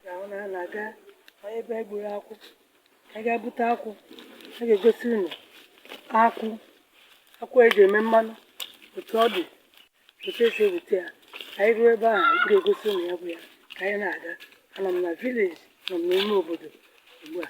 ka anyị na-aga ebe e gburu akwụ ka anyị ga-ebute akwụ a ga-egosi unu akwụ akwụ eji eme mmanụ otu ọ dị otu esi ebute ya ka anyị ruo ebe ahụ m ga-egosi unu ya bụ ya ka anyị na-aga anọ m na village nọ m n'ime obodo ugbu a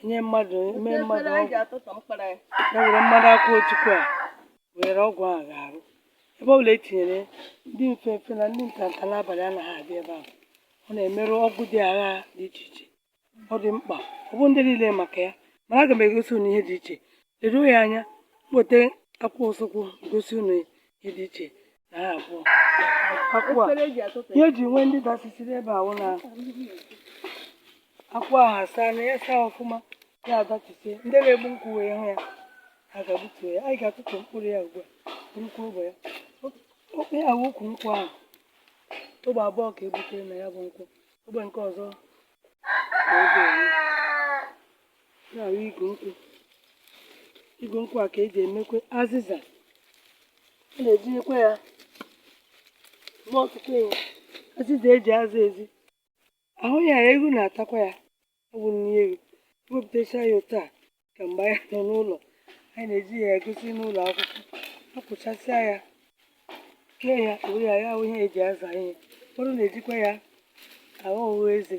enye mmadụ eme mmadụ ọgwụ ya were mmanụ akwụ ojukwu a were ọgwụ a ga-arụ ebe ọbụla etinyere ndị mfe mfe na ndị ntanta n'abalị anaghị abịa ebe ahụ ọ na-emerụ ọgwụ dị agha dị iche iche ọ dị mkpa ọ bụ ndị niile maka ya mana aga m egosi unu ihe dị iche leruo ya anya m weta akwụ ọsụkwụ gosi unu ihe dị iche akwụ a ihe eji nwee ndị dasịsịrị ebe a wụ na akwụ ahụ ashaana ya shaa ọfụma ya adachisie ndị na-egbu nkwụ wee hụ ya ha ga-egbutu ya anyị ga-atụtụ mkpụrụ ya ugbu a nnukwu ogbe ya okpe ya bụ ukwu nkwụ ahụ ogbe abụọ ka ebutere na ya bụ nkwụ ogbe nke ọzọ na oge ya bụ igu nkwụ igu nkwụ a ka eji emekwe azịza a na-ejikwa ya eme ọtụtụ ihe azịza eji aza ezi ahụ ya ewu na-atakwa ya ọ bụ nri ewu ewepụtacha ya otu a ka mgbe anyị nọ n'ụlọ anyị na-eji ya egosi n'ụlọ akwụkwọ akpụchasịa ya kee ya were ya ya aghọ ihe eji aza ihe ụfọdụ na-ejikwa ya aghụ eze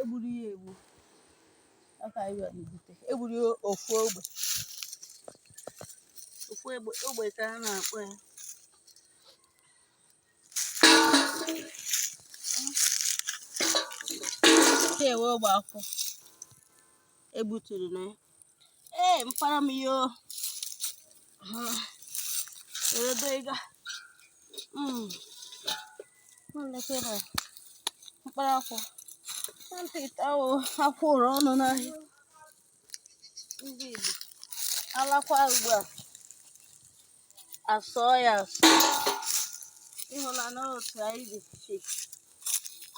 egburu ya egbu ya ka anyị bịara ibute egburu ya ofu ogbe ofu egbe ogbe ka a na-akpọ ya nke a wụ ogbe akwụ egbuturu na ya Ee, mpara m yo. Eredo ịga. Mm. Nlekwa ebe a. Mkpara akwụ. Na ntị ite ahụ akwụ ụrụ ọnụ n'ahịa. Ndị Igbo. Alakwa ugbu a. Asụọ ya asụọ. Ịhụla na otu anyị dị.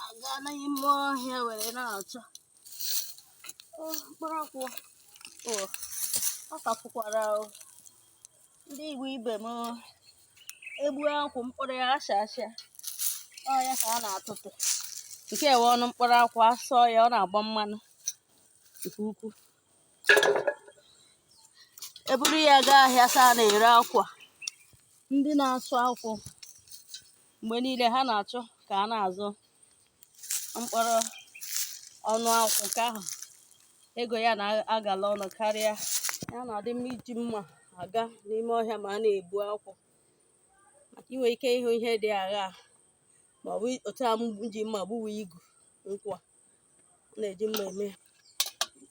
Aga n'ime ọhịa were na-achọ. mkpụrụ akwụ ọ ka fụkwara ndị igbo ibe m egbuo akwụ mkpụrụ ya asha asha ọ ya ka a na-atụtụ nke a wụ ọnụ mkpụrụ akwụ asụọ ya ọ na-agba mmanụ nke ukwuu eburu ya gaa ahịa side a na-ere akwụ ndị na-asụ akwụ mgbe niile ha na-achọ ka a na-azụ mkpụrụ ọnụ akwụ nke ahụ ego ya na-agala ọnụ karịa ya na-adị mma iji mma aga n'ime ọhịa ma a na-egbu akwụ maka inwe ike ịhụ ihe dị agha ma ọ bụ otu a m ji mma gbuwe igu nkwụ a na-eji mma eme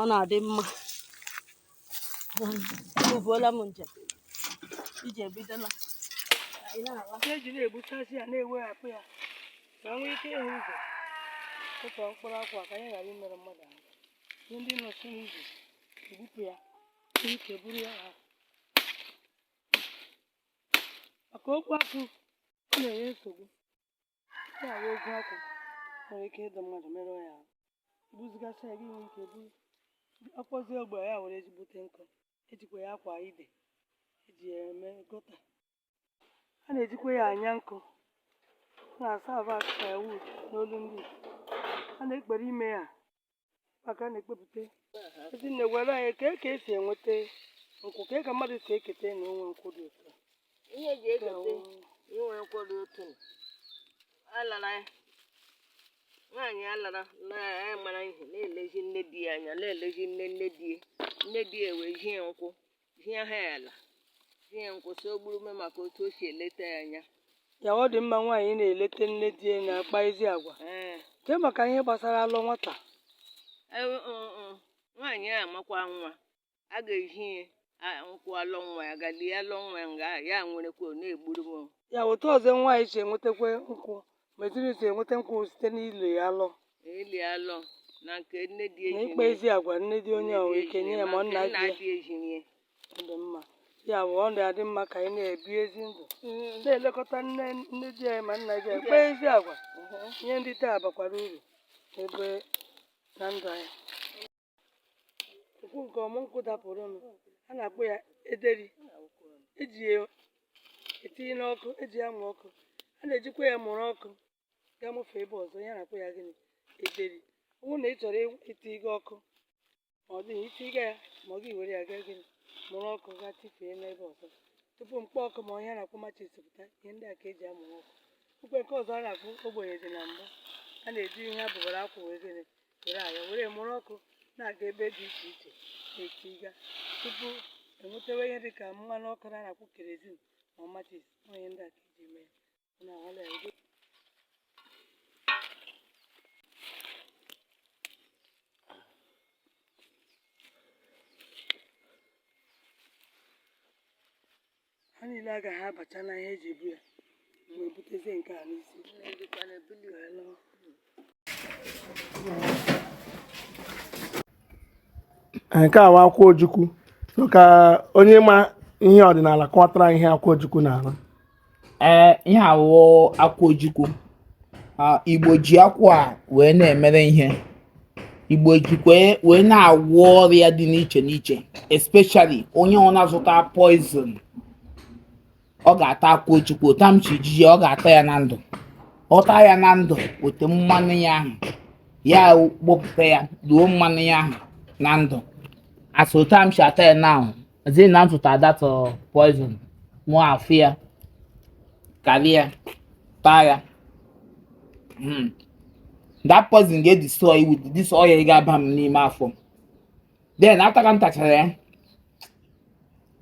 ọ na-adị mma ebuola m njem iji ebidola eji na-egbuchasị ya na-eweghapụ ya ka nwee ike ịhụ ụzọ tụtụọ mkpụrụ akwụ ka anyị ghara imerụ mmadụ ahụ ihe ndị nọchi n'ụzọ egbupụ ya ike buru ya ha maka ogwu akwụ ọ na-enye nsogbu ya wụ ogwu akwụ nwere ike ịdụ mmadụ merụọ ya ahụ ibuzigasị ya gị nwee ike buru akpọzie ogbe ya were eji egbute nkụ ejikwa ya akwa ide eji ya eme gọta a na-ejikwa ya anya nkụ a na-asa ava firewood n'olu ndị a na-ekpere ime ya maka na ekpepụta Ezinne gwara anyị ka ka esi enweta nkwụ ka ka mmadụ si eketa na onwe nkwụ dị ụtọ ihe eji eketa inwe nkwụ dị ụtọ alara nwaanyị alara na-amara ihe na-elezi nne di ya anya na-elezi nne nne di ya nne di ya ewee zie ya nkwụ zie ha ala zie nkwụ sị o gburume maka otu o si eleta ya anya ya wụ ọ dị mma nwaanyị na-eleta nne di ya na-akpa ezi agwa ee nke maka ihe gbasara alọ nwata Ewe- mm, mm. nwaanyị amụkwa nwa a ga-ezi ya a- nkwụ alọ nwa ya gaa lie alọ nwa ya nga ya nwerekwa ọ na-egburu m ya otu ọzọ nwaanyị si enwetakwa nkwụ Ma Ezinụlọ si enweta nkwụ o site n'ili alọ ili alọ na nke nne di na ịkpa ezi agwa nne di onye ahụ ike nye ya ma ọ nna di ya dị ezinye. ọ dị mma. Ya bụ ọ na-adị mma ka anyị na-ebi ezi ndụ na-elekọta nne nne di anyị ma nna di anyị kpaa ezi agwa ihe dị otu a bakwara uru n'ebe na ndụ anyị. nkwụ nke ọmụ nkwụ dapụrụnụ a na-akpọ ya ederi eji ya etinye n'ọkụ eji ya mụ ọkụ a na-ejikwa ya mụrụ ọkụ gaa mụfee ebe ọzọ ya na-akpọ ya gịnị ederi ọ bụrụ na ị chọrọ iti gị ọkụ ma ọ dịghị iti gị ya ma ọ gị were ya gaa gịnị mụrụ ọkụ gaa tifee n'ebe ọzọ tupu mkpọ ọkụ ma ihe a na-akpọ machis pụta ihe ndị a ka eji amụrụ ọkụ okwe nke ọzọ a na-akpọ ogbenye dị na mbụ a na-eji ihe abụbara akwụ wee gịnị were ya were mụrụ ọkụ na-aga ebe dị iche iche na-etiga tupu enwetawa ihe dịka mmanụ ọkụ a na-akpọ kerozin ma machis ihe ndị a ka eji mee ya na ọla ego ha niile agaghị abacha na ihe eji ebu ya mgbe ebutezie nke a n'isi nke a wụ akwụ ojukwu ka onye ma ihe ọdịnala kọtara ihe akwụ ojukwu na-arụ ee ihe a wụ akwụ ojukwu igbo ji akwụ a wee na-emere ihe igbo jikwa wee na-agwọ ọrịa dị n'iche n'iche especially onye ọ na-azụta poison ọ ga-ata akwụ ojukwu otu a m si jiji ya ọ ga-ata ya na ndụ ọ taa ya na ndụ o te mmanụ ya ahụ ya gbọpụta ya loo mmanụ ya ahụ na ndụ as otu a m si ata ya now sị na m zụtara that uh, poison mụ afụ ya karịa taa ya Hmm. that poison ga-edestroy with this oil ga-aba m n'ime afọ then after ka m tachara ya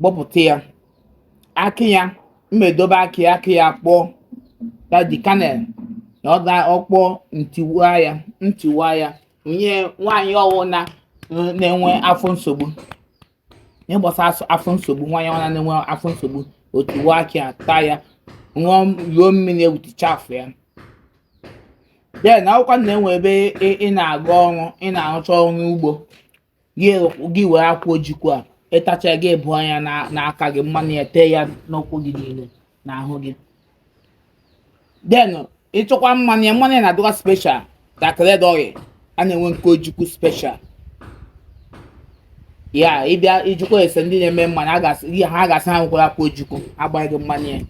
gbọpụta ya akị ya m edobe akị ya akị ya kpọọ ya the kernel na ọ ga ọ kpọọ m tiwaa ya m tiwaa ya nye nwaanyị ọwụna na-enwe afọ nsogbu ihe gbasara afọ nsogbu nwaanyị ọwụna na-enwe afọ nsogbu o tiwaa akị ya taa ya ṅụọ mmiri ewuticha afọ ya then ọ wụkwanụ na enwere ebe ị na-aga ọrụ ị na-arụcha ọrụ ugbo gị were akwụ ojukwu a ị tachaa gị agbụa ya n'aka gị mmanụ ya tee ya n'ụkwụ gị niile n'ahụ gị then ịchọkwa mmanụ ya mmanụ ya na-adịkwa special dị ka red oil a na-enwe nke ojukwu special ya ịbịa ijikwa ese ndị na-eme mmanụ ihe ha ga-asị ha nwekwara akwụ ojukwu agbaara gị mmanụ ya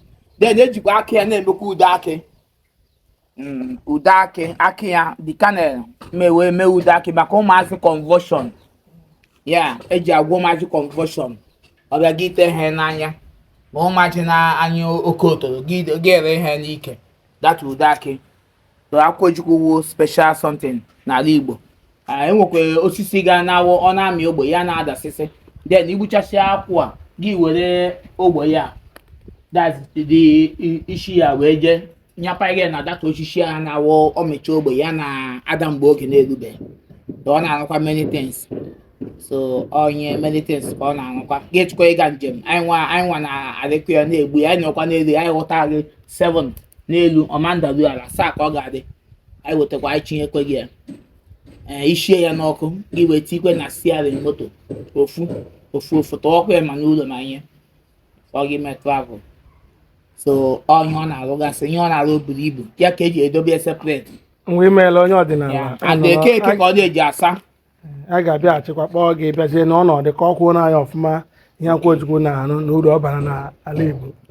then ejikwa akị ya na-emekwa ude akị mm, ude akị akị ya the kernel mewe mee ude akị maka ụmụazị convulsion ya eji agwọ ụmụazị convulsion ọ bịa gị ite ihe n'anya ma ụmụazị na-anyụ oke otoro gị gị ere ihe n'ike that ude akị so akwụ ojukwu wu special something n'ala igbo enwekwa osisi ga na-awụ ọ na-amị ogbe ya na-adasịsị then igbuchasị akwụ a gị were ogbe ya the isi ya wee jee nyapa gị na that osisi a na-awụ ọ mịchaa ogbe ya na-ada mgbe oge na-erubeghị ọ na-arụkwa many things so onye many things ka ọ na-arụkwa gị chọkwa ịga njem anyị nwa anyị nwa na-arịkwa ya na-egbu ya anyị nọkwa n'elu anyị ghọta gị 7 n'elu ọ ma ndalu ala asaa ka ọ ga-adị anyị wetakwa anyị chinyekwe gị ya ee ishie ya n'ọkụ gị wee tikwe na steering moto ofu ofu ofu tọwakwa ya ma n'ụlọ ma ihe ọ gị mee travel so onye ọ na-arụgasị ihe ọ na-arụ buru ibu ya ka eji edobe ya separate nwa imeela onye ọdịnala ya and eke eke ka ọ na-eji asa a ga-abịa achịkwa kpọọ gị bịazie n'ọnọdụ ka ọ kwuo n'anya ọfụma ihe akwụ ojukwu na-arụ na uru ọ bara n'ala Igbo